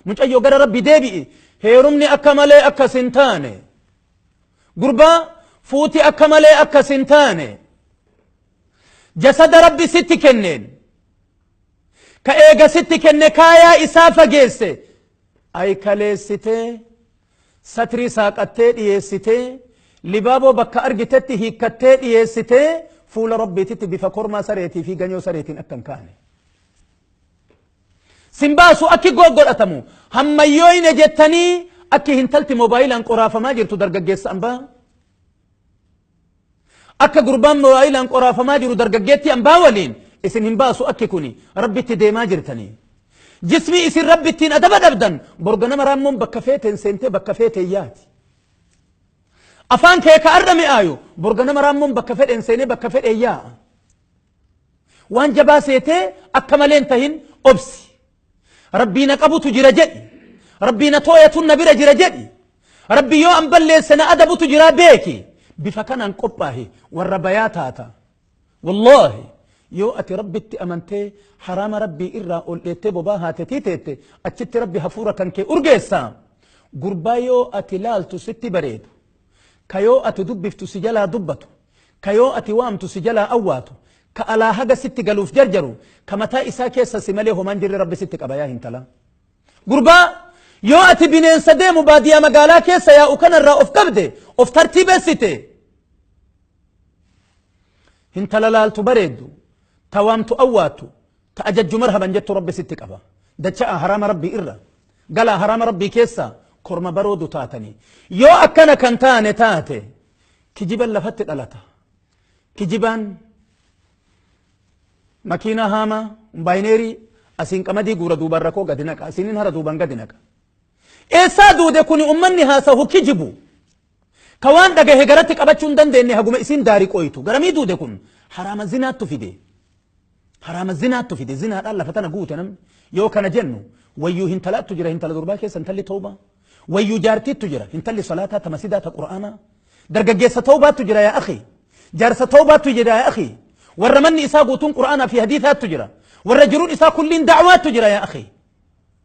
mucayyoo gara rabbi deebi'i heerumni akka malee akkas hin taane gurbaa fuuti akka malee akkas hin taane jasada rabbi sitti kenneen ka eega sitti kenne kaayaa isaa fageesse ay kaleessitee satrii saaqattee dhiyeessitee libaaboo bakka argitetti hiikkattee dhiyeessitee fuula rabbiititti bifa kormaa sareetii fi ganyoo sareetiin akka hin kaane Sin baasu akki goggodhatamu hammayyooyne jettanii akki hintalti mobaayilaan qoraafamaa jirtu dargaggeessa ambaa akka gurbaan mobaayilaan qoraafamaa jiru dargaggeetti ambaa waliin isin hin baasu akki kuni rabbitti deemaa jirtanii. Jismii isin rabbi ittiin adaba dhabdan borga nama raammoon bakka feeteen seentee bakka feetee yaati. Afaan kee ka arra mi'aayu borga nama raammoon bakka fedheen seenee bakka fedhee yaa'a. Waan jabaa seetee akka malee hin tahin obsi. Rabbii na qabutu jira jedhi. Rabbii na tooyatun na bira jira jedhi. Rabbii yoo an balleesse na adabutu jira beeki. Bifa kanaan qophaahi warra bayaa taata. Wallaahi yoo ati rabbitti amantee haraama rabbii irraa ol dheettee bobaa haatetii teette achitti rabbi hafuura kan kee urgeessa. Gurbaa yoo ati laaltu sitti bareedu. Ka yoo ati dubbiftu si jalaa dubbatu. ka yoo ati waamtu si jalaa awwaatu, ka alaa haga sitti galuuf jarjaru, ka mataa isaa keessa si malee homaa hin jirre Rabbi sitti qaba yaa hintalaa. Gurbaa! Yoo ati bineensa deemu baadiyaa magaalaa keessa yaa'u kana irraa of qabde, of tartiibessite, hintala laaltu bareeddu, ta waamtu awwaattu, ta ajajju marhaban jettu Rabbi sitti qaba. Dacha'aa haraama Rabbii irra, galaa haraama Rabbii keessa korma baroodu taatanii. Yoo akkana kan taane taate, Kijiban lafatti dhalata. Kijibaan makiinaa haamaa kombaayineerii asiin qamadii guura duubaan rakkoo gadi naqa asiinin hara duubaan gadi naqa. Eessaa duude kuni ummanni haasahu kijibu. Ka waan dhagahe garatti qabachuu hin dandeenye haguma isiin daarii qoyitu. Garamii duude kun haraama zinaattu fide. Haraama zinaattu fide zinaadhaan lafa tana guute namni yoo kana jennu wayyuu hintalaattu jira hintala durbaa keessa intalli tawbaa wayyuu jaartiittu jira intalli salaataa ta masidaa ta qur'aanaa dargaggeessa tawbaattu jira yaa akhi jaarsa tawbaattu jira yaa akhi warra manni isaa guutuun qur'aanaa fi hadiisaattu jira warra jiruun isaa kulliin da'waattu jira yaa akhi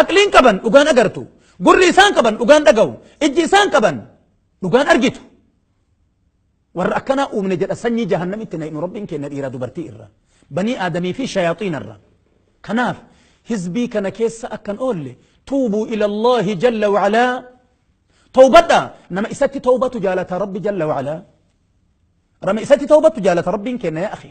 Aqliin qaban dhugaan agartu. Gurri isaan qaban dhugaan dhagahu. Ijji isaan qaban dhugaan argitu. Warra akkanaa uumne jedha sanyii jahannamitti na hidhu rabbiin keenya dhiiraa dubartii irra. Banii aadamii fi shayaaxiina irra. Kanaaf hizbii kana keessa akkan oolle tuubuu ilallahi jalla wa'alaa tawbadha nama isatti tawbatu jaalata rabbi jalla wa'alaa. Rama isatti tawbatu jaalata rabbiin keenya yaa akhi.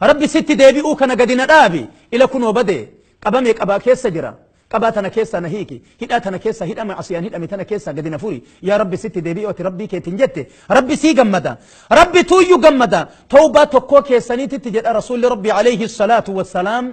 Rabbi sitti deebi'uu kana gadi na dhaabi. Ila kunoo bade, qabame qabaa keessa jira. Qabaa tana keessaa na hiiki. Hidhaa tana keessaa hidha ma'asiyaan hidhame tana keessaa gadi na furi. Yaa Rabbi sitti deebi'uu ati Rabbii keetiin jette. Rabbi sii gammada. Rabbi tuuyyu gammada. Tawbaa tokkoo keessaniititti jedha Rasuulli Rabbi alayhi salaatu wassalaam.